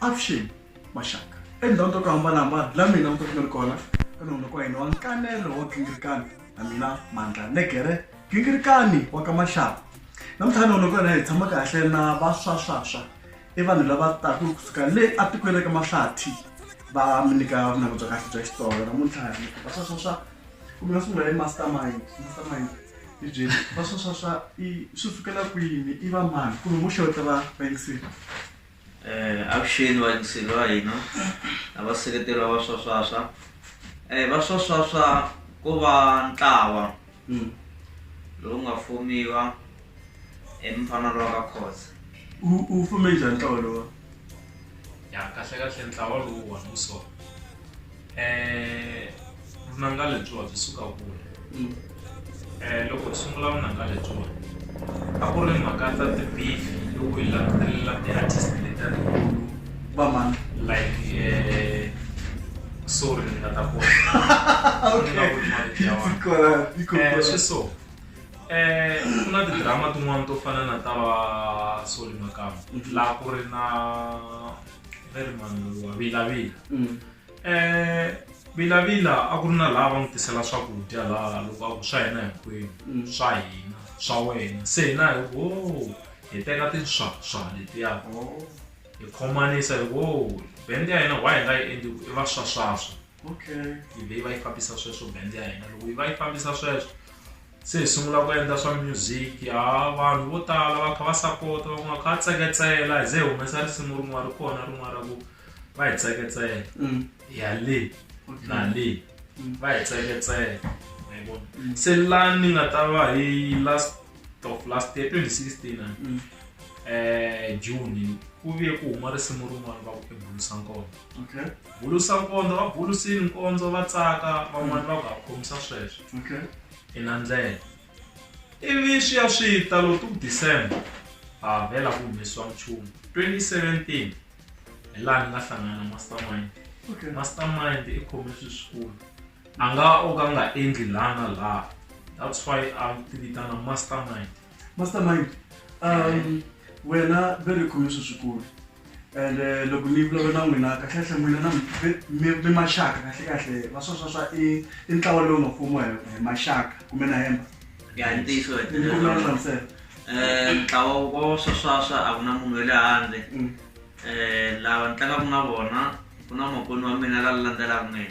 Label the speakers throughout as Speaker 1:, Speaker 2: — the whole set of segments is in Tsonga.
Speaker 1: avuxeni maxaka endhawu to ku hambanahambana la mina mi kokumeli kona ka nona ka hina wa nkanelo wa gingirikani na mina mandla negere gingirikani wa ka maxaka namuntlha nona ka hina hi tshama kahle na vaswaswaswa i vanhu lava taka kusuka le etikweni ra ka mahlathi va mi nyika vunanga bya kahle bya xitsonga namuntlha vaswaswaswa kumbe va sungula hi mastermind mastermind hi byeli va swa swa swa i swi fikela kwini i va mani kumbe muxe wo tlava vayingsini eh
Speaker 2: avuxeni vayingsini va hina lava seketeriwa va swaswaswa um eh, va swaswaswa ku va ntlawa hmm. lowu nga fumiwa emfanelo wa ka khosa u fume
Speaker 1: njhani ntlawa lowa ya
Speaker 3: kahlekahle ntlawa lowu wona wu sona eh, vunanga lebyiwa byi suka kule mm. eh, loko hi sungula vunanga lebyiwa a ku ri mhaka ta tibifi loko hi langutelela ti-artist leta tikulu vamani
Speaker 1: like eh,
Speaker 3: sorry ni nga ta kona eh, swi so eh ku na tidrama tin'wana to fana na ta va soli makamba mhm. laha ku ri na very mani wa vilavila mm. Eh, vilavila a ku ri na laha va n'wi tisela swakudya laha loko a ku swa hina hinkwenu mm. swa hina swa wena se hina hi wo hi teka tinswaswa letiya oh. hi khomanisa hi wo bend ya hina why hi nga yi endli ku i va swaswaswa okay yi vhe yi va yi fambisa sweswo bend ya hina loko yi va yi fambisa sweswo se hi sungula ku endla swa music ha vanhu vo tala va kha va sapota va n'wi kha va tseketsela hi ze hi humesa risimu rin'wana ri kona rin'wana ra ku va hi tseketsela mm. ya le na le mm. va hi tseketsela mm. se la ni nga ta va hi last of last year 2016 ah. um eh, june ku vuye ku huma risimu rin'wana va ku ebulisankona Bulusa-nkondzo va bulusile nkondzo va tsaka van'wana va ku ha khomisa sweswo. Okay. I na ndlela. Ivi swi ya swi ta lo tu December ha vhela ku humesiwa nchumu. 2017 hi laha ni nga hlangana na mastermind. Okay. Mastermind i khome swilo swikulu. A nga o ka a nga endli laha na laha that's why a ti vitana mastermind. mastermind um
Speaker 1: wena ve ri khome swi swikulu and eh, loko ni vulavula na n'wina kahlekahle n'wina na mi- mi mi maxaka kahlekahle va sweswa swa i i ntlawa lowu nga fumiwa hi hi maxaka kumbe na hemba ya hi ntiyiso
Speaker 2: wa ni kombela u hlamusela um
Speaker 1: ntlawa wa swaswaswa
Speaker 2: a ku na munhu wa le handle Mm. um lava ni tlangaka na vona ku na makwenu wa mina la landzelaka mina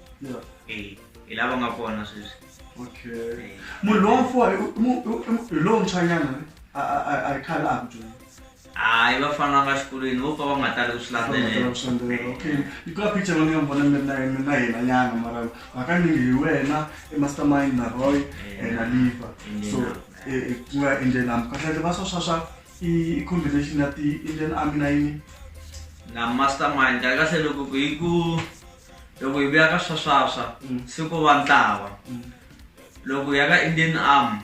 Speaker 2: hi lava nga kona sweswi okay munhu lowamfuwa
Speaker 1: hi lowuntshwanyana a hi khale a ku dyonda hayi va
Speaker 2: fana va xikolweni vo pfa va nga tali ku swi landzelelaokayikula
Speaker 1: picture va ni nga vona mina mina hina nyana mara hakanyingi hi wena emastermind na roy na liva so ku nga indian army kahleke va swa swa swa i combination ya ti-indian army na yini na
Speaker 2: mastermind kahle loko ku hi ku loko hi vuya ka swaswaswa mm. se ku va ntlawa mm. loko hi ya ka indian arm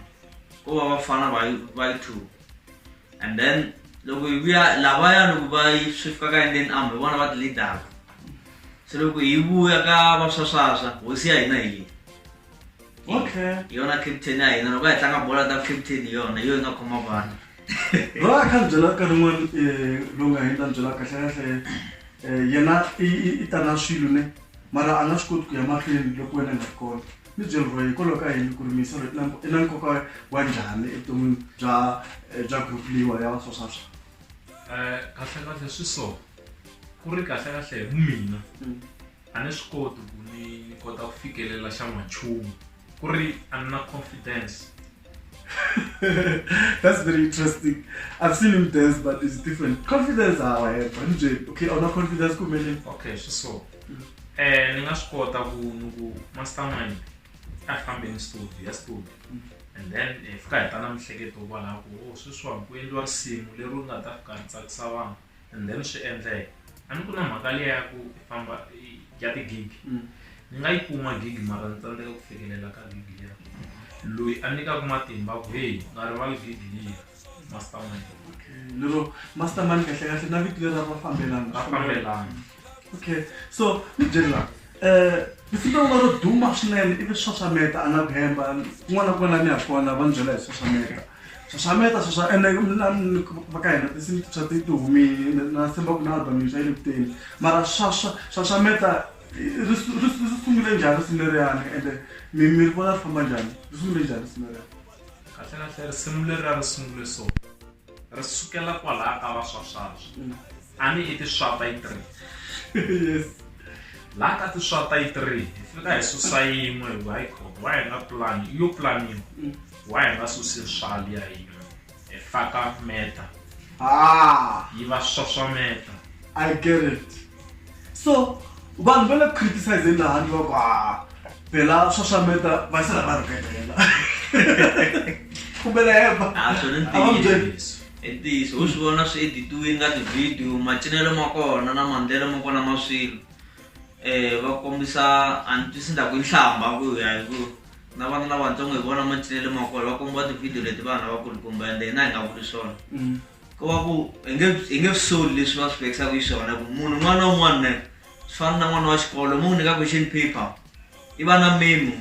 Speaker 2: ku va vafana va yi two and then loko hi vuya lavaya loko va yi swi fika ka indian arm hi vona va ti-leadaka se loko hi vuya ka vaswaswaswa hosi ya hina hi yini okay yona captain ya hina loko hi tlanga bola ta captain yona yo yi nga khoma vanhu loyi
Speaker 1: a kha ni byela nkarhi wun'wani um eh, lowu nga hindza ni byela kahlekahle um eh, yena i ta na swilo ne mara a nga swi koti ku ya mahlweni loko wena nga ri kona ni byeli roye hikwalaho ka yini ku ri misolo i na nkoka wa njhani evuton'wini bya eh, bya group leyiwa ya vaswaswaswa um
Speaker 3: kahlekahle swi so ku ri kahlekahle hi mina mm. a ni swi koti ku ni ni kota ku fikelela xa n'wanchumu ku ri a ni na confidence
Speaker 1: That's very interesting. I've seen him dance, but it's different. Confidence, how I have. Andre, okay, on a confidence, come in. Okay, so so. Mm.
Speaker 3: Eh, ninga skota ku nugu mastermind. I found in studio, yes studio. Mm. And then if eh, ka tana mhleketo kwala ku oh, sweswa ku endliwa risimu leri u nga ta fika ntsakisa vanhu. and then swi endleka a ni ku na mhaka leya ya ku i famba i- ya ti-gig Mm. ni nga yi kuma gig mara ni tsandzeka ku fikelela ka gig liya loyi a nyikaka matimba ku heyi nga rivali gig liya mastermind lero
Speaker 1: mastermind kahle kahle na vito lera va fambelana va fambelana
Speaker 3: okay
Speaker 1: so ni byeli la um risimu rin'wana ro duma swinene ivi xaxameta a nga ku hemba kun'wana na kun'wana ni ya kona va ni byela hi xaxameta xaxameta sweswa ene va ka hina tinsimu tintshwa ti ti humile na tshemba ku na album yintshwa yi le ku teni mara swaswa xaxameta ri sungule njhani risimu leriyani ende mi mi ri vona ri famba njhani ri sungule njhani risimu leriyani kahle kahle
Speaker 3: risimu leri a ri sungule so ri sukela kwalaha ka vaswaswaswa mm. a ni i tiswata yi three yes
Speaker 1: laha ka
Speaker 3: tiswata yi three hi fika hi susa yin'we hi high court wa hi nga plani yo planiwa mm. wa hi nga susi swali ya hina hi faka meta ah. yi va swaswameta i get it
Speaker 1: so vanhu va le ku criticizeni laha ni va ku a phela swaswameta va sala va rhukelela kumbela hemba a swi ri a va mi byeli ntiyiso
Speaker 2: i ntiyiso u swi vona swi editiwini ka tivhidiyo macinelo ma kona na mandlelo ma kona ma swilo um va kombisa a ni twisi ndaku i nhlamba ku ya hi ku na vana lavatsongo hi vona macinelo ma kona va kombiwa tivhidiyo leti vanhu lavakulukumba ende hina hi nga vuli swona Mm. ku va ku hi nge hi nge soli leswi va swi vekisaka hi swona ku munhu un'wana na un'wana ne swi fana na n'wana wa xikolo mu n'wi nyika question paper i va na memo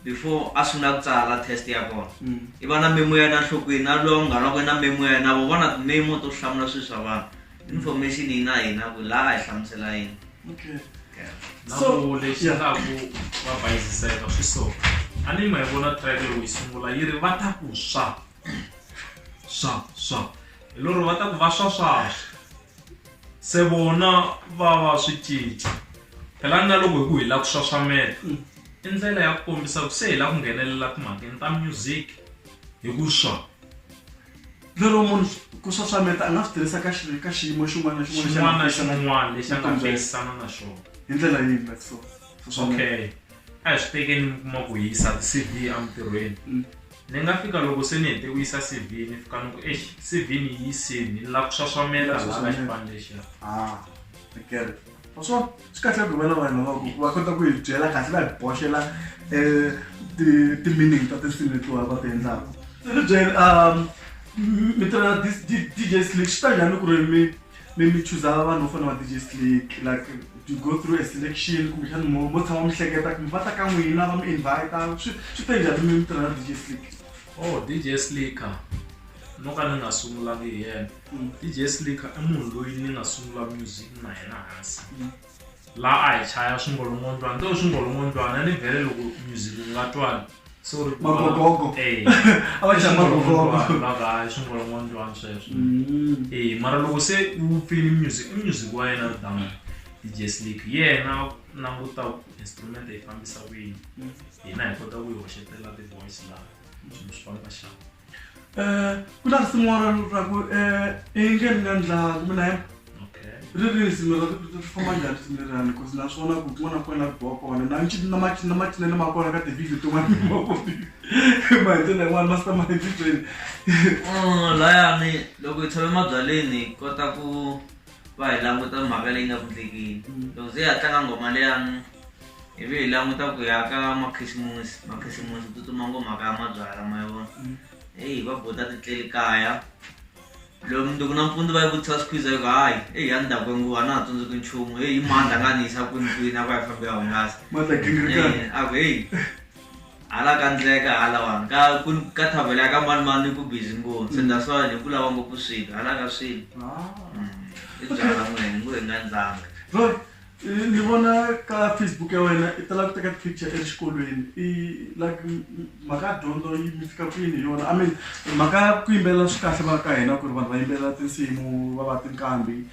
Speaker 2: before a sungula ku tsala test ya kona mm. i va na memo ya yena nhlokweni na lowa munghana wa kwena memo ya yena vo va na timemo to hlamula swilo swa vanhu information yi na hina ku laha a hi hlamusela yini
Speaker 1: leswaku
Speaker 3: va bayiziseka swi so a ni ma yi vona track loko yi sungula yi ri va ta ku swa swa swa hi lori va ta ku va swaswaswa se vona va va swi cinca phela na loko hi ku hi lava ku swaswameta mm. i ndlela ya ku kombisa ku se hi lava ku nghenelela timhakeni ta music hi ku swa
Speaker 1: lero munhu ku swaswameta a nga swi tirhisa ka ka xiyimo xin'wana na xin'wana na xin'wana
Speaker 3: lexi a nga fikisana na xona hi ndlela yihi
Speaker 1: but so okay
Speaker 3: a hi swi tekeni mi kuma ku yisa ti-cd emintirhweni mm. Ni nga fika loko se ni hete ku yisa C_V ni fika ni ku eish C_V ni yi yisini ni lava ku xaxamela hala ka xipano lexiya ah ni
Speaker 1: get it wa swona swi kahle ku hi va na vanhu lava ku va kota ku hi byela kahle va hi boxela um ti ti-meaning ta tinsimu letiwa va ti endlaka ni byele um mi tirha na DJ Slick swi ta njhani loko ri mi mi mi chuza vanhu vo fana va dj slick like you go through a selection kumbexani mo mo tshama mi hleketa kumbe va ta ka n'wina va mi invita swi swi te njhani mi mi tirha na dj slick oh dj
Speaker 3: slicker no ka ni nga sungulangi hi yena dj slicker i munhu loyi ni nga sungula music na yena hansi la a hi chaya swingolongondzwana to swingolongondzwana ni bele loko music u nga twani so ri Magogogo. Eh,
Speaker 1: a va chaya magogogo swingolongondzwana, va nga hayi swingolongondzwana
Speaker 3: sweswo Mm. Eh, mara loko se u pfini music i music wa yena down dj slick yena u languta ku instrument yi fambisa ku yini hina hi kota ku yi hoxetela ti-voice laha swilo swi famba xana um
Speaker 1: ku na risimu ra ra ku um engeni na ndlala mi na yena okay ri ri risimu ra ri famba njhani risimu lerani bcause na swona ku kun'wana na kun'wana la biwa kona na nci- na maci- na macinelo ma kona ka tivideo tin'wana mi ma vonile ma hi ndlela yin'wana ma sita ma endlitweni Mm,
Speaker 2: laya mi loko hi tshame mabyaleni hi kota ku va hi languta mhaka leyi nga ku ndlekeni mm. loko ze hi ya tlanga ngoma leyani hi ve hi languta ku ya ka makhisimusi makhisimusi tsutsuma ngomhaka ya mabyala ma yi vona mm. eyi va bota titleli kaya loko mundzuku na mpfundzi va yi vutisa squeeze yo hayi eyi ya ndhaku nguva na ha tsundzuki nchumu eyi mandla nga ni yisa kwini kwini a va yi fambe ya hungasa a ku heyi hala ka ndleka halawani ka ka thavela ya ka manimani ku busy ngopfu se that's why ni ku lava ngopfu swilo hala ka swilo ah. mm. i byala n'wini ku hi nga ndzanga
Speaker 1: ni vona ka facebook ya wena i tala ku teka picture exikolweni i like mhaka ya dyondzo yi mi fika kwini hi yona i mean mhaka ya ku yimbelela swi kahle va ka hina ku ri vanhu va yimbelela tinsimu va va tinqambi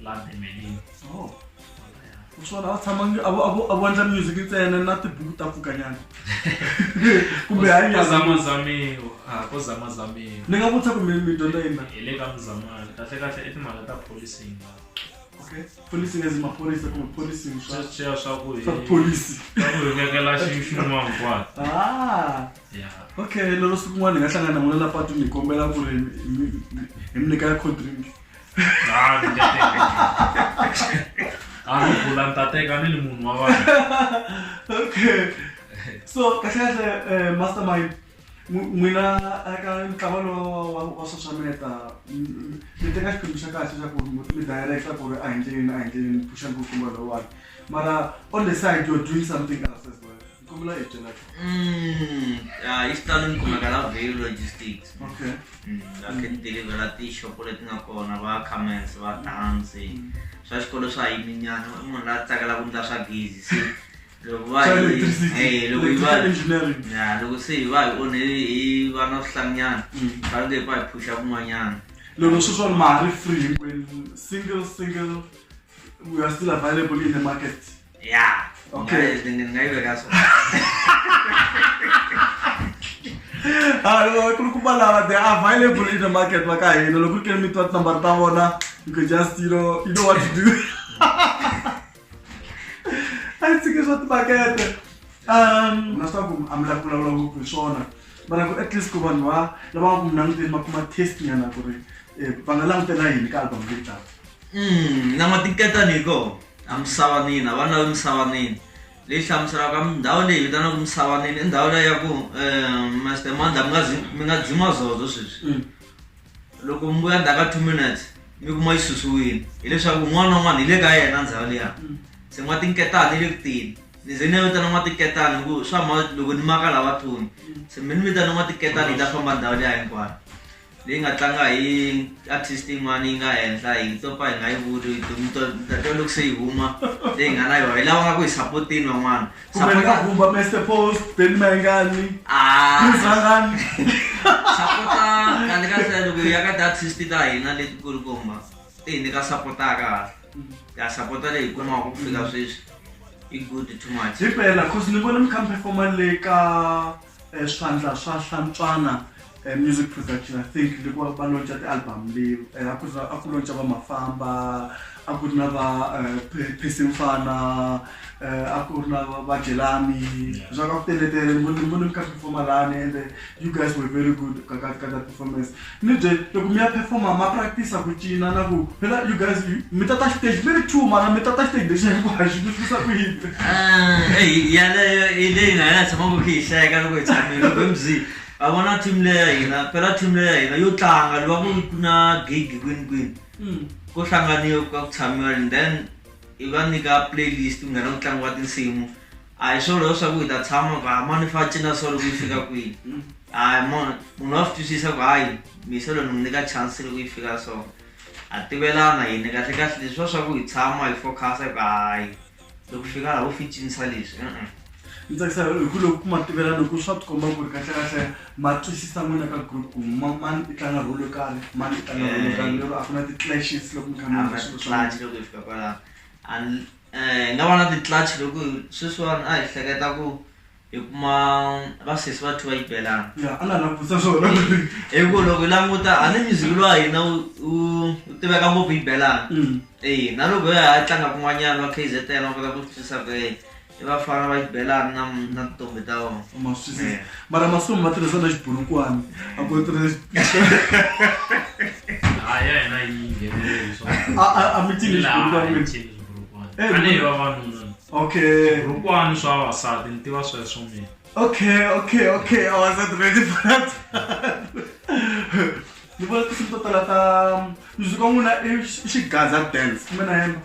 Speaker 3: love
Speaker 1: emelini oh. swona va tshama a vondla music ntsena na tibuku ta pfukanyana kumbe hanyazamazamiwa ah,
Speaker 3: ko zamazamiwa ni nga vutisa kumbe mi
Speaker 1: dyondza yina hi le ka muzamani
Speaker 3: kahlekahle i timhaka ta policing okay
Speaker 1: policing as maphorisa kumbe policing swa swa swa ku
Speaker 3: hi policy swa
Speaker 1: ku hi vekela
Speaker 3: xin'wana
Speaker 1: kwala ah yeah okay lero siku n'wana hi nga hlangana n'wana la patwini hi kombela ku ri hi mi nyika ya cold drink Ah, ni nga teka.
Speaker 3: A ni bula ni ta teka ni ri munhu wa vanhu. okay
Speaker 1: so kahlekahle eh, mastermind n'wi- n'wina eka ntlawa lowu wa wa sosameta mi teka xiphemu xa kahle xa ku mi mi directa ku ri a hi endleleni a hi endleleni phuxani ku tlumba lowani mara on the side you're doing something else as well Kumla
Speaker 2: yet na. Mm, ah, yi xitalo ni kumeka la Vale Logistics. Okay. Mm,
Speaker 1: la ke
Speaker 2: deliver la ti shop leti nga kona va comments va dance. Mm. Swa xikolo swa yini nyana i munhu la tsakela ku ndla swa gezi se loko va eh loko yi va engineering. Ya loko se yi va yi onhe yi va na swihlanyana. Mm. Ka nge pa yi phusha kun'wanyana. Loko swi swa
Speaker 1: mali free hinkwenu single single we are still available in the market. ya
Speaker 2: Okay.
Speaker 1: Ngai- ngai- ngai vekaso. Ah, ku ri kuma lava they are available in the market va ka hina loko ku ri ke ni mi twa tinambara ta vona you can just you know you know what to do a yi tshiki swa timakete um na swa ku a mi lavi ku vulavula ngopfu hi swona mara ku at least ku vanhu va lava nga ku mi languteni va kuma test nyana ku ri eh, va nga langutela yini ka album leyi taka Mm, na matiketani
Speaker 2: hiko. A Musavaneni, a va na Musavaneni leyi hlamuselaka ndhawu leyi vitanaka Musavaneni i ndhawu leyi ya ku um Master Mandla mi nga mi nga dzima zozo sweswi mm. loko mi vuya ndzhaku ka two minutes mi kuma yi susiwile hileswaku un'wana na un'wana hi le ka yena ndhawu liya mm. se n'watinketani yi le ku tini ni ze ni ya vitana n'watinketani hi ku swa ma loko ni maka lava thoni mm. se mi ni vitana n'watinketani yi ta famba ndhawu liya hinkwayo leyi nga tlanga hi artist yin'wana yi nga henhla hi to pa hi nga yi vuli to loko se yi huma leyi nga na yona hi lava nga ku hi sapotini van'wana kumbeaumba
Speaker 1: master post ben mayingani izangani
Speaker 2: sapota kani ka se loko ya ka ti-artist ta hina leti ku ri komba ti hi nyika sapotaka ya sapota leyi hi kumaka ku fika sweswi i good too much hi phela cause ni vona
Speaker 1: mi kha mi performa le ka eh, swandla swa hlantswana eh, music production i think loko va- va lonca ti-album leyi eh, a ku ri na- a ku lonca va mafamba a ku ri na va eh, Pe- Percy mfana eh, a ku ri na va- va jelani swa ka ku teletele ni vone ni vone mi kha mi performa lani ende you guys were very good ka ka ka that performance Mi bye loko mi ya performer ma practice ku cina na ku phela you guys mi tata stage mi ri two mara mi tata stage lexi hinkwaxi mi twisa ku yini eyi yaleyo hi leyi
Speaker 2: na hina tshamaka khe hi hleka loko hi tshamile loko hi mzi a vona team leya hina phela team leya hina yo tlanga loko ku ku na gig kwini kwini ko hlanganiwa ka ku tshamiwa and then hi va nyika playlist ku nghena ku tlangiwa tinsimu a hi swona leswaku hi ta tshama ku hayi mani fa cina so loko yi fika kwihi hayi munhu munhu wa swi twisisa ku hayi mise loko ni n'wi nyika chance loko yi fika so ha tivelana hini kahle kahle leswi swa swa ku hi tshama hi focus-a ku hayi loko fika laha u fi cinisa leswi e-e ni tsakisa
Speaker 1: hi ku loko ku ma tivela loko swa tikomba ku ri kahlekahle ma twisisa n'wina ka group ku ma- mani i tlanga role yo karhi mani i tlanga role yo karhi lero a ku na ti-clashes loko mi kha mi endla swilo swa n'wina. clutch loko hi fika
Speaker 2: kwalaho and eh, nga va na ti-clutch loko sweswiwani a hi hleketa ku hi kuma vasesi va two va yi belana a na langutisa
Speaker 1: swona hi ku loko
Speaker 2: hi languta a ni music lowa hina wu tiveka ngopfu yi belana mm. e na loko ya ha tlanga kun'wanyana wa k z n va kota ku twisisa ku e va fana va xibelani na na tintombi ta vona eh. mara masiku
Speaker 1: ma tirhisa na xiburukwani a ku tirhisa
Speaker 3: a mi
Speaker 1: tivi xiburukwani Eh, tanihi vavanuna okay vurukwani swa
Speaker 3: vavasati ni tiva sweswo mina okay okay
Speaker 1: okay vavasati ready fanat ni vona tinsimu to tala ta music wa n'wina i xigaza dance kumbe na yena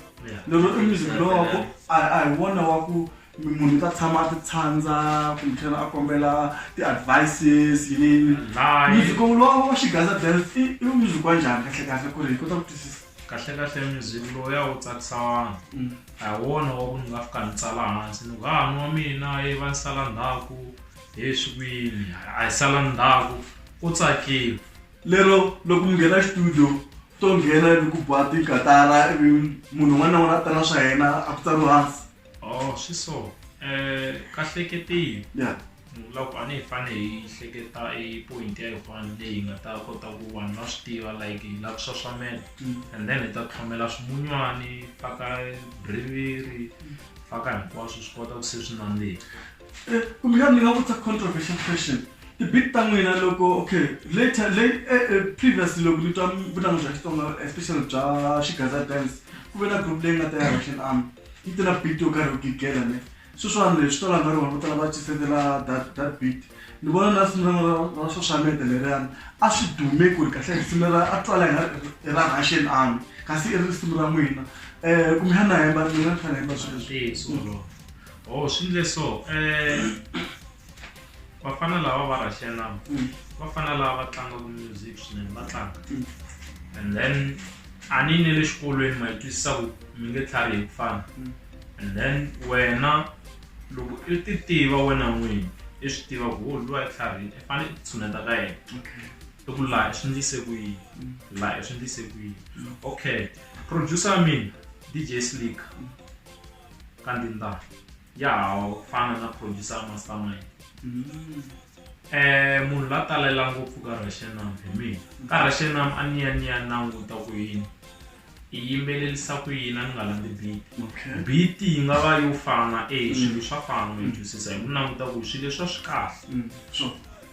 Speaker 1: lero i music lowa ku a hi wona wa ku munhu ta tshama a ti tshandza kumbexana a kombela ti-advices yinini music lowa wa xigaza dance i music wa njhani kahle kahle ku ri hi kota ku twisisa kahle kahle music
Speaker 3: lowu ya wu tsakisa vanhu mm. a hi wona wa ku ni nga fika ni tsala hansi ni ku ha ah, ni wa mina ye va ni sala ndhaku he swi kwini a hi sala
Speaker 1: ndhaku ku
Speaker 3: tsakiwa lero
Speaker 1: loko mi
Speaker 3: nghena
Speaker 1: studio
Speaker 3: to
Speaker 1: nghena ivi ku ba tikatara ivi munhu un'wana na un'wana a ta na swa yena a ku tsariwa hansi oh swi so um
Speaker 3: kahleketile ya
Speaker 1: loko a ni hi
Speaker 3: fane hi hleketa i point ya yin'wana leyi nga ta kota ku vanhu va swi tiva like hi lava ku xaxamela and then hi ta tlhomela swimunywana faka briviri faka hinkwaswo swi kota ku se swi nandzika kumbexana
Speaker 1: ni nga vutisa controversial question ti-bit ta n'wina loko okay later late eh, eh, previously loko ni twa vunanga bya xitsonga especially bya xigaza dance ku ve na group leyi nga ta ya russian army yi ti na beat yo karhi yo gigela ne sweswiwani leswi to langa rona vo tala va cisetela that that beat ni vona na ra xaxameta leriyani a swi dume ku ri kahle risimu ra a twala hi i ra russian army kasi i risimu ra n'wina um kumbe xana hemba mina ni fanele hemba swilo leswi o swi
Speaker 3: ndle so um vafana lava va russia lava mm. vafana lava va tlangaku music swinene va tlanga mm. and then a ni ne le xikolweni ma yi twisisa ku mi nge tlhari hi ku fana mm. and then wena loko i ti tiva wena n'wini i swi tiva ku wo oh, luwa i tlharini i fanele i tshuneta ka yena i ku laha i swi ndlise ku yini laha i swi ndlise ku yini okay producer mina dj slick ka ndindana ya ha fana na producer ya mastermind Mm. eh munhu la talela ngopfu ka rashenam hi mina ka rashenam a ni ya ni ya languta ku yini i yimbelelisa ku yini a ni nga landzi beat Okay. beat yi nga va yo fana e swilo swa fana mi twisisa hi ku languta ku swilo leswa swi kahle Mm. Sure.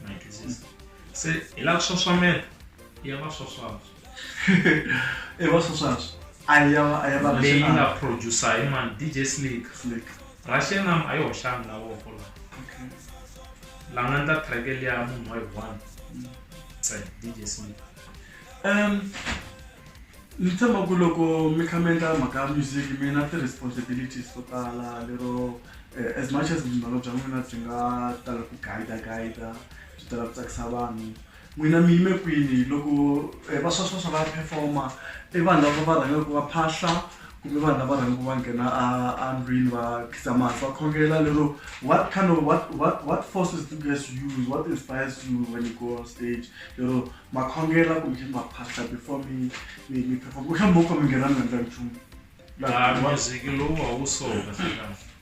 Speaker 3: mi twisisa se hi la swaswamela ya va swaswaswa
Speaker 1: e va swa swatswa a ya va a ya va leyi nga producer
Speaker 3: hi mani dj slick slick russia nam a yi hoxanga la voko la okay la nga ndla track liya munhu wa yi one sa dj slick um
Speaker 1: ni tshemba ku loko mi kha mi endla mhaka ya music mi na ti-responsibilities to tala lero eh, as much as vundzimano bya n'wina byi nga tala ku guida guida byi tala ku tsakisa vanhu N'wina mi yime kwini loko vaswaswaswa va perform-a i vanhu lava va rhangaku va phahla kumbe vanhu lava rhangaku va nghena a a ndlwini va khizama hansi va khongela lero what kind of what what what forces do you guys use what inspires you when you go on stage lero ma khongela kumbexani ma phahla before mi mi mi perform kumbexani mo ka mi nghena mi nga ndla nchumu laha music lowu a
Speaker 3: wu so kahlekahle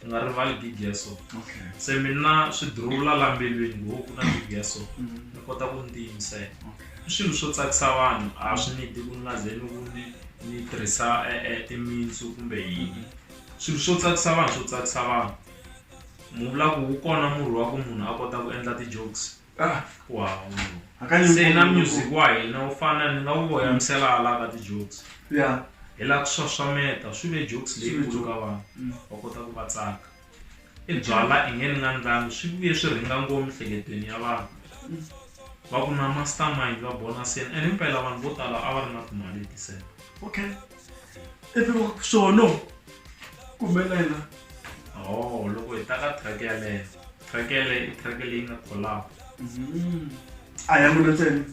Speaker 3: ti nga rivali gig ya so okay se mina swi durula la mbilwini ngo ku na gig ya so mm. ni kota ku ni tiyimisela i swilo swo tsakisa vanhu a swi ni di ku ni nga ze ni ku ni ni tirhisa e, e, timitsu kumbe yini swilo swo tsakisa vanhu swo tsakisa vanhu mu vula ku wu kona murhi wa ku munhu a kota ku endla ti-jokes Ah, wow. Hakanyingi Se na munhu- music wa hina wu fana ni nga wu voyamisela hala ka ti-jokes. Yeah. Hi la ku xaxameta swi ve jokes Swi ve leyikulu joke. ka vanhu Mm. va kota ku va tsaka. I byala i nge ni nga ndlangi swi vuye swi rhinga ngopfu miehleketweni ya vanhu. Va ku na mastermind va bona seni and himpela vanhu vo tala a va ri na timali hi ti-cent. Okay.
Speaker 1: epiwa sono kumbe na yena oh
Speaker 3: loko hi ta ka track yaleyo track yaleyo i track leyi nga collab mm-hmm.
Speaker 1: a ya n'wina ntsena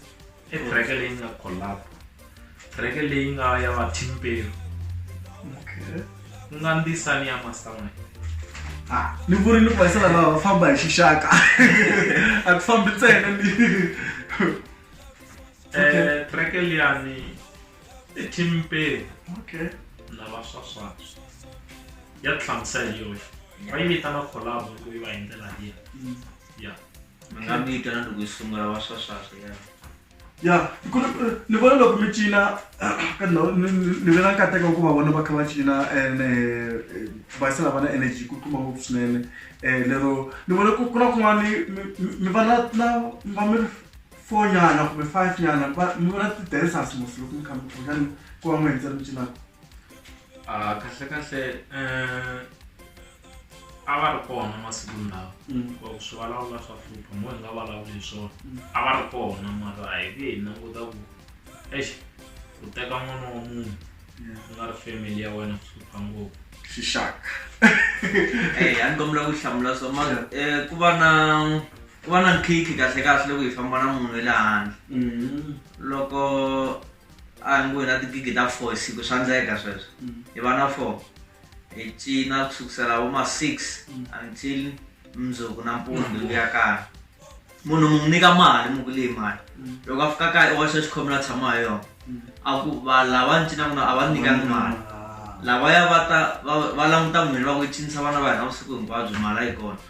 Speaker 1: i track
Speaker 3: leyi nga collab track leyi nga ya vatimpelo okay ku nga ndisani ya mastermind ah,
Speaker 1: ni vuri ni kuvaisana lava va famba hi xixaka a ku fambi ntsena ni
Speaker 3: eh, track liyani etimpeni okay na va swaswatu ya tlangisa hi yoxe va yi vitana collabo loko yi va hi ndlela liya mm. ya mi nga
Speaker 2: mi vitana loko yi sungula va swaswatu ya ya
Speaker 1: ni vona loko mi cina ka ndhawu ni vona nkateko ku va vona va kha va cina and eh, va yisa lavana energy ku kuma ngopfu swinene um lero ni vona ku na kun'wana mi va na na va mi four nyana kumbe five nyana va mi vona ti-dancers mos loko mi khambi kumbexani ku va mi endza mi cinaka Ah, kahle kahle
Speaker 3: eh, a va ri kona masiku lawa Mm. Loko swi vulavula swa hlupha mo hi nga vulavuli hi swona Mm. a va ri kona mara a hi nge hi languta ku ex u teka n'wana wa munhu ku nga ri family ya wena swi hlupha ngopfu xixaka
Speaker 2: Eh, a ni kombela ku
Speaker 1: hlamula
Speaker 2: swa mara eh, ku va na ku va na nkhikhi kahlekahle loko hi famba na munhu wa le handle mm. loko a hi ngo hi na tigigi ta four hi siku swa ndleka sweswo mm. hi va na four hi cina ku sukusela vo ma six mm. until mundzuku na mpundzu hi vuya kaya munhu mu n'wi nyika mali mu ku leyi mali loko a fika kaya i waxa xikhome la tshama hi yona a ku va lava ni cinaka na a va ni nyikangi mali lavaya va ta va languta n'wini va ku cinisa vana va hina vusiku hinkwabyo mali a yi kona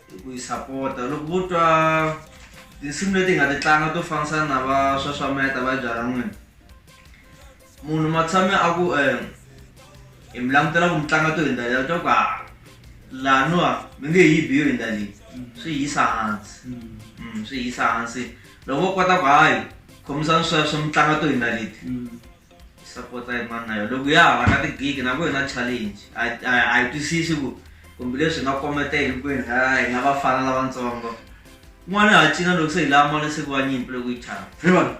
Speaker 2: hi ku yi sapota loko vo twa tinsimu leti hi nga ti tlanga to fambisana na va swaswameta va byala n'wini munhu matshame a ku um hi mi langutela ku mi tlanga to hi ndlela to ku ha laniwa mi nge yi biyo hi ndalini swi yisa hansi mm, swi yisa hansi loko vo kota ku hayi khomisani sweswo mi tlanga to hi ndaliti mm. sapota hi mani na yo loko ya hava na tigigi na ku hi na challenge a hi twisisi ku kumbe leswi hi nga kometa hi hinkwenu ha hi nga vafana lavatsongo n'wana ha cina loko se hi lava mali siku wa nyimpi loko yi chava hi vona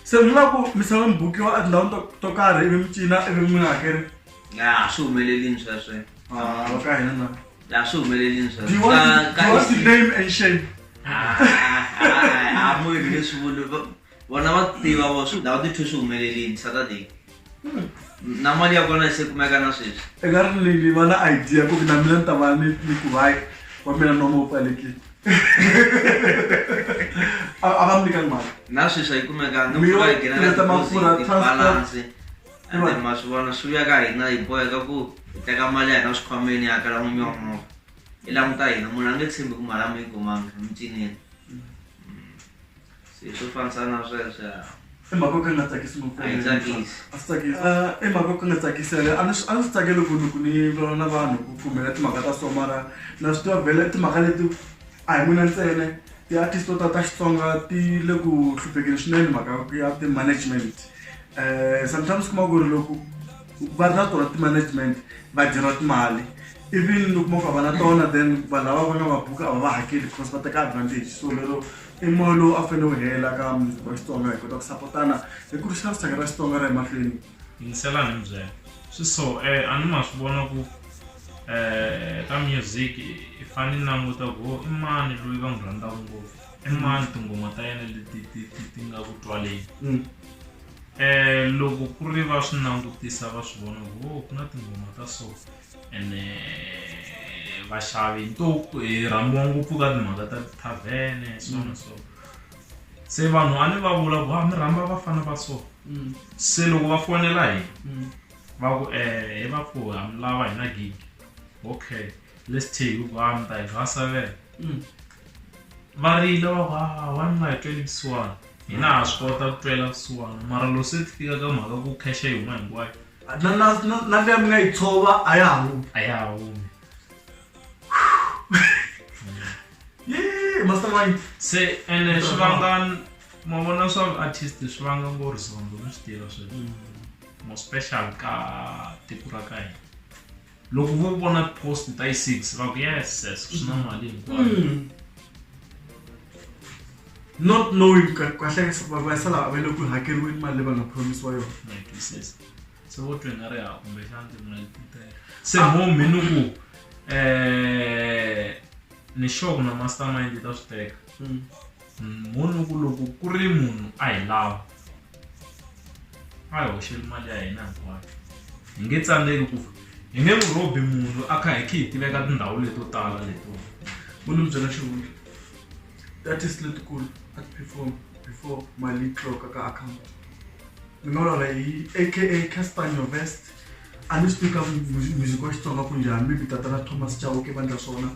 Speaker 1: se mi lava ku misava mi bukiwa etindhawini to to karhi ivi mi cina ivi mi nga hakeri ya a swi
Speaker 2: humelelini sweswe Ah, va
Speaker 1: ka hina na ya swi humelelini do
Speaker 2: you want to- do you want
Speaker 1: to sweswe name and shame
Speaker 2: a munhu leswi vulu vona va tiva vo swi lava tithu swi humelelini saturday hmm. na mali ya kona se kumeka na sweswi eka ri lili va
Speaker 1: na idea ku na mina ni ta va ni ni ku vai wa mina no mo pfalekile a va mi nyika mali na sweswi a yi kumeka ni ku va yi nghena ka deposit balance
Speaker 2: and
Speaker 1: then
Speaker 2: ma swi vona swi vuya ka hina hi boheka ku hi teka mali ya hina swikhwameni ya kala n'winyi wa movha i languta hina munhu a nge tshembi ku mali a mi yi kumanga mi cinile se swo fanisa na
Speaker 1: sweswo ya i mhaka yo ka ni nga tsakisi ngopfu A yi tsakisi. a swi tsakisi Ah, i mhaka yo ka ni nga tsakisi yale a ni swi- a ni swi tsakeli ku loko ni vulavula na vanhu ku kumela timhaka ta so mara na swi tiva vhele timhaka leti a hi mina ntsene ti-artist to ta ta xitsonga ti le ku hluphekeni swinene mhaka ya ti-management um sometimes kuma ku ri loko va ri na tona ti-management va dyeriwa timali even loko mo ka va na tona then vanhu lava va nga va buka a va va hakeli because va teka advantage so lero I moya lowu a fanele wu hela ka muzukulu wa Xitsonga hi kota ku sapotana hi ku risa rixaka ra Xitsonga ra emahlweni yingiselani mi
Speaker 3: byela swi so um a ni ma swi vona ku um ka music i fane ni languta ku i mani loyi va n'wi rhandzaka ngopfu i mani tinghoma ta yena leti ti ti ti nga ku twaleni um loko ku ri va swi langutisa va swi vona ku ku na tinghoma ta so ene vaxavi ntoku hi rhambiwa ngopfu ka timhaka ta tithavhene so na mm. so se vanhu a ni va vula ku a ah, mi rhamba vafana va so mm. se loko va fonela hi mm. va ku um eh, hi va ku ha mi lava hi na gig okay let's take ku a ah, mi ta hi gasa vele va rila va ku a ah, wa ni nga hi tweli kusuwana hina ha swi kota ku twela kusuwana mara loko se ti fika ka mhaka ku khesha hi huma hinkwayo na na na na
Speaker 1: leya mi nga yi tshova a ya ha humi a ya ha humi yee mastermind se ene
Speaker 3: swi vanga ma vona swa artist swi vanga ngo rizondo mi swi tiva sweswo mo special ka tiko ra ka hina loko vo vona post ta yi six va ku yes yes swi
Speaker 1: na mali hinkwayo mm. not knowing kahle vasala va le ku hakeriweni mali leyi va nga promisiwa yona
Speaker 3: se vo twe nga ri ha kumbexana timali titele se mo mi ni ku um ni sure ku na mastermind ta swi teka mm. munhu ku loko ku ri munhu a hi lava a hi hoxeli mali ya hina hinkwayo hi nge tsandzeki ku hi nge n'wi rhobi munhu a kha hi khe hi tiveka tindhawu leto tala leto u ni byela
Speaker 1: xivulu tatist letikulu a ti perform before mali yi tloka ka account ni nga vulavula hi aka castanio vest a ni swi tika music wa xitsonga ku njhani maybe tatana thomas chauke vandla swona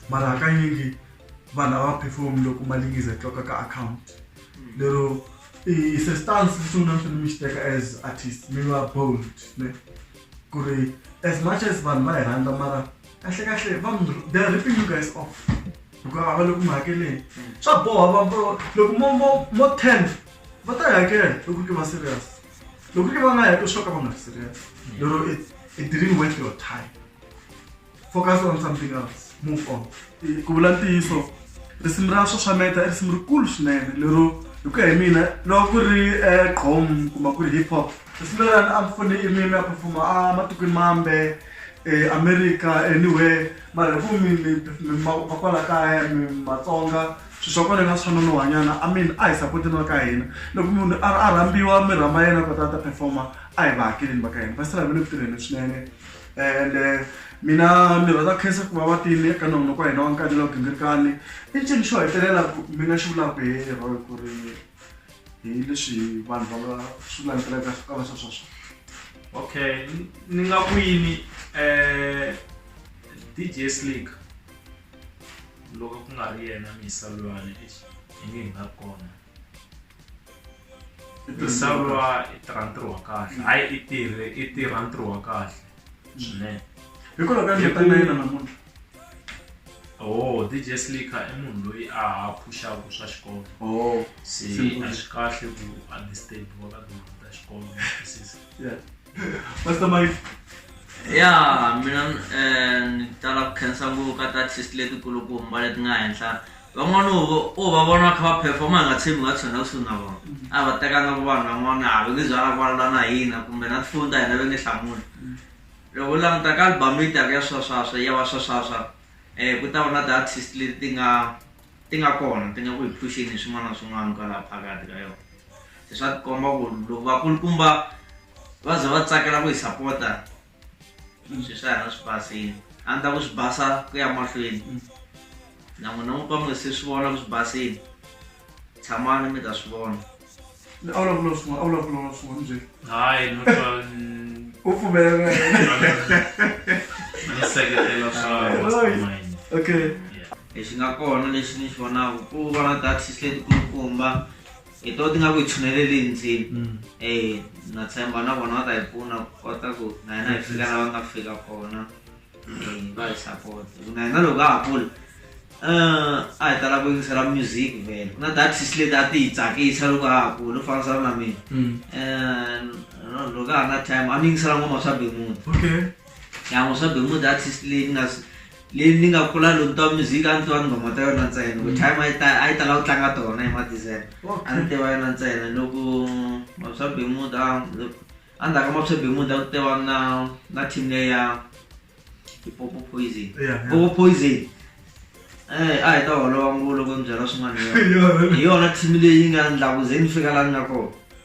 Speaker 1: mara hakanyingi vanhu a va perform loko mali yi za tloka ka account lero i se stance lexi n'wina mi fanele mi xi teka as artist mi va bold ne ku ri as much as vanhu va hi rhandza mara kahle kahle va mi they are ripping you guys off hikuva a va le ku mi hakeleni swa boha va va- loko mo mo mo ten va ta yi hakela loko ke va serious loko ke va nga heko swo ka va nga ri serious lero it it didn't worth your time focus on something else move on ku vula ntiyiso risimu ra xaxameta i risimu rikulu swinene lero hi ku ya hi mina loko ku ri eh, qom kumbe ku ri hip hop risimu lerani a mfune i mimi a performa a matikweni mambe eh, america anywhere mara hi ku mi- mi- mi- ma- ma kwala kaya mi- matsonga swi swa kona nga swa nonohanyana i mean a hi sapoteni va ka hina loko munhu a a rhambiwa mi rhamba yena kota a ta performa a hi va hakeleni va ka hina va sala ve le ku tirheni swinene ende mina ni rhandza ku khensa ku va va tile ka nongonoko wa hina wa nkani lowu gingirikani i ncini xo hetelela mi nga xi vulaka hi roy ku ri hi leswi vanhu va nga swi langutelaka ka va swa sweswo okay
Speaker 3: ni nga ku yini um dj slick loko ku nga ri yena misalulwane i nge hi nga kona Tirhisiwa i tirha ntirho wa kahle hayi i tirhe i tirha ntirho wa kahle swinene
Speaker 1: hikwalaho ka ndlela na yena namuntlha
Speaker 3: oh dj slicker i munhu loyi a phuxaka swa xikolo oh se a swi kahle ku understand wa ka duma ta xikolo yeah
Speaker 1: pastor mike ya
Speaker 2: mina um ni tala ku khensa ngopfu ka ta test letikulukumba leti nga henhla Vha ṅwana uvho u vha vhona kha vha phefoma nga tsimu nga tsona kusuna vho. A vha teka nga vhana vha ṅwana a vhe zwa kwala na hina kumbe na tfunda hina venge hlamula. Loko u languta ka album yi taka ya swaswaswa ya va swaswaswa eh ku ta va na the artist leti ti nga ti nga kona ti nga ku hi phuxini hi swin'wana na swin'wana kwalaha phakathi ka yona. Se swa tikomba ku loko vakulukumba va za va tsakela ku hi sapota sweswi a hi na swi basile a ni ta ku swi basa ku ya mahlweni mm. na n'wina n'wi ka mi nga se swi vona ku swi basile tshamani mi ta swi vona a wu lavula
Speaker 1: swin'wana a
Speaker 3: wu
Speaker 1: lavula na swin'wana njhe hayi u pfumelela
Speaker 3: seketela swa
Speaker 1: okay lexi nga
Speaker 2: kona lexi ni xi vonaka ku va na taxis letikulukumba hi to ti nga ku hi tshuneleli ndzimi mm. e na tshemba na vona va ta hi pfuna ku kota ku na hina hi fika la va nga fika kona eh, va hi support na hina loko a ha kula eh, a hi tala ku yingisela music vele ku na datisi leti a ti hi tsakisa loko a ha kula u fambisana na mina mm. eh, loko a ha na time a ni yingisela ngoma swa bemuti ya ngo swa be mood artist leyi ni nga leyi ni nga kula loko twa music a ni tiva nghoma ta yona ntsena ku time a yi ta a yi tala ku tlanga tona hi madizele a ni tiva yona ntsena loko mapswa be mood a andzhaku ka mapswa be mood a ku tiva na na team leyi ya popo poison popo poison Eh, a hi ta holova ngopfu loko ni byela swin'wana hi yona team leyi nga ndlaku ze ni fika laha ni nga kona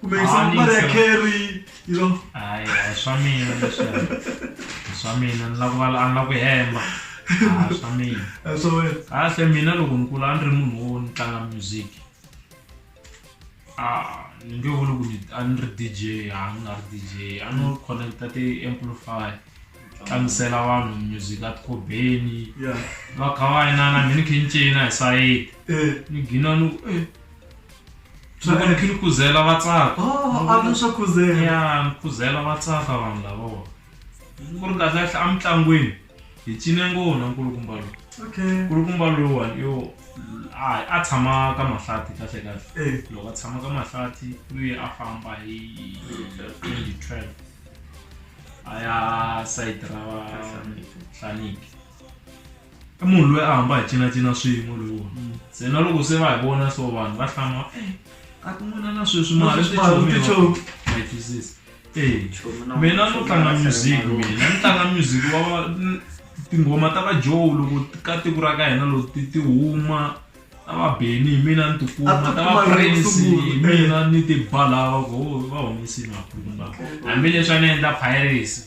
Speaker 1: kumbe yi swa mali ya carry you know hayi hayi swa
Speaker 3: mina leswi swa mina ni lava ku vala a ni lava ku hemba hayi swa mina Eh, swa wena
Speaker 1: kahle mina loko ni
Speaker 3: kula a ni ri munhu wo ni tlanga music Ah, ni nge vuli ku ni- a ni ri dj a ni nga ri dj a no connecta ti-amplify tlangisela vanhu music a tikhobeni ya va
Speaker 1: kha va yinana
Speaker 3: mi ni khe ni cina hi sayiti eh ni gina ni ku eh swa fanekhe ni khuzela va tsaka oh, a swa
Speaker 1: khuzela ya ni khuzela
Speaker 3: va tsaka vanhu lavawa ku ri kahle kahle emitlangwini hi cine ngona nkulukumba lowu okay nkulukumba
Speaker 1: lowuwani
Speaker 3: yo a a tshama ka mahlati kahle kahle eh. loko a tshama ka mahlati luye a famba hi 2012 a ya sayiti ra hlaniki i munhu loyi a hamba hi cinacina swin'we loyi wona mm. se na loko se va hi vona so vanhu va hlama eh, ka tin'wana na sweswi mali tichomi ma twisisa eh, mina no tlanga music mina ni tlanga music wa tinghoma ta vajoe loko ka tiko ra ka hina loko ti ti huma ta vabeni hi mina ni tikuma ta vaprince hi mina ni tibalawa ko va humesini maphuma hambileswi a ni endla piracy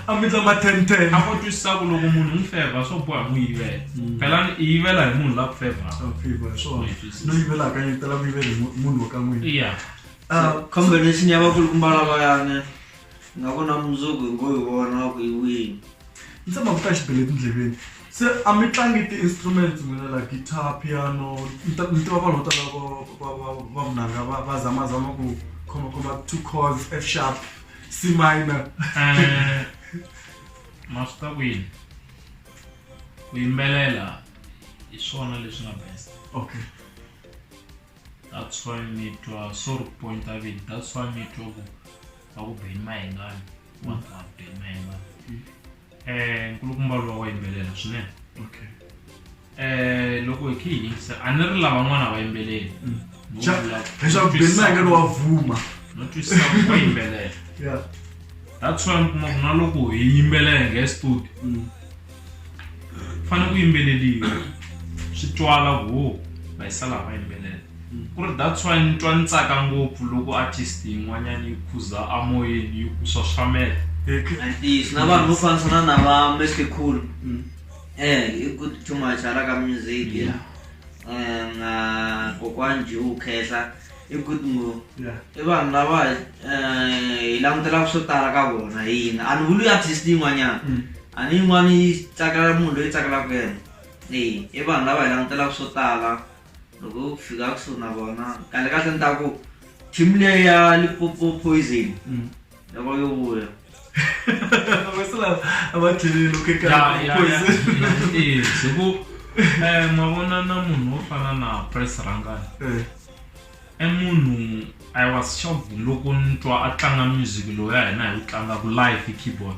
Speaker 1: a mi tla mathenthen a ko twisisa ku loko
Speaker 3: munhu n'wi fevha swo boha n'wi yivela phelani i yivela hi munhu la ku fevhakono
Speaker 1: yivela akanyetela ku yivela hi munhu wa ka n'wina ya ah,
Speaker 3: combination
Speaker 2: ya vakulukumba lavayane nga vona mundzuku hi ngo hi vona ku yi wini ndzi tshama ku ta
Speaker 1: xibele etindleveni Se a mi tlangi ti-instruments n'wina la guitar, piano ni ta ni tiva vanhu vo tala vo va va va vunanga va va zamazama ku khomakhoma two chords F sharp C minor Eh,
Speaker 3: ma swi ta kwini ku yimbelela hi swona leswi nga best okay that's why mi twa sorry ku pointa vini that's why mi twa ku va ku beni mahengani vanhu va beni mahengani eh nkulukumba lowa wa yimbelela swinene okay eh
Speaker 1: loko hi khe hi yingisa a
Speaker 3: ni ri lavan'wana va yimbeleli Mm. Vo Xa- vula,
Speaker 1: leswaku "Twisisa beni mayengelo wa vuma no twisisa
Speaker 3: ku wa yimbelela ya
Speaker 1: that's why
Speaker 3: mi kuma ku na loko hi yimbelela hi nge studio Mm. fanele ku yimbeleliwa swi twala ku ho va yi sala va yimbelela Ku ri that's why ni twa ni tsaka ngopfu loko artist yin'wanyana yi khuza a moyeni yi ku swaswameta ntiyiso
Speaker 2: na vanhu vo fambisana na va mr cool um i good too much hala ka music Yeah. um na kokwani jew khehla i good ngo Yeah. i vanhu lava um hi langutelaka swo tala ka vona hi yini a ni vuli artist yin'wanyana Mm. a ni yin'wana yi tsakela munhu loyi tsakelaka yena e i vanhu lava hi langutelaka swo tala loko swi fika kusuhi na vona kahle kahle ni ta ku team leyi ya lipopo poison mm. loko
Speaker 3: yo vuya hiku eh, mavona na munhu wo fana na press rangani eh. i munhu i was shocked loko ni twa a tlanga music loyi ya hina hi wu tlangaku live hi keyboard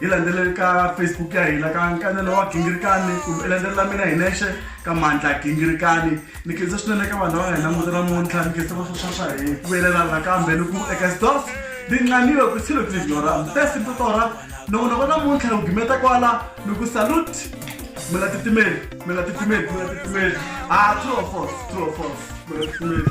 Speaker 1: hi landzeleli ka facebook ya hina ka nkanelo wa gingirikani kumbe i landzelela mina hi nexe ka mandla gingirikani ni khensa swinene ka vanhu lava nga hi languta namuntlha ni khensa vaswaswa swa hi ku velela nakambe ni ku eka stos ni nqaniwe ku tshilo tlinyora mtesi mtotora loko noko namuntlha u gimeta kwala ni ku salut mi nga titimeli mi nga titimeli mi nga titimeli a ah, true or false true or false mi nga titimeli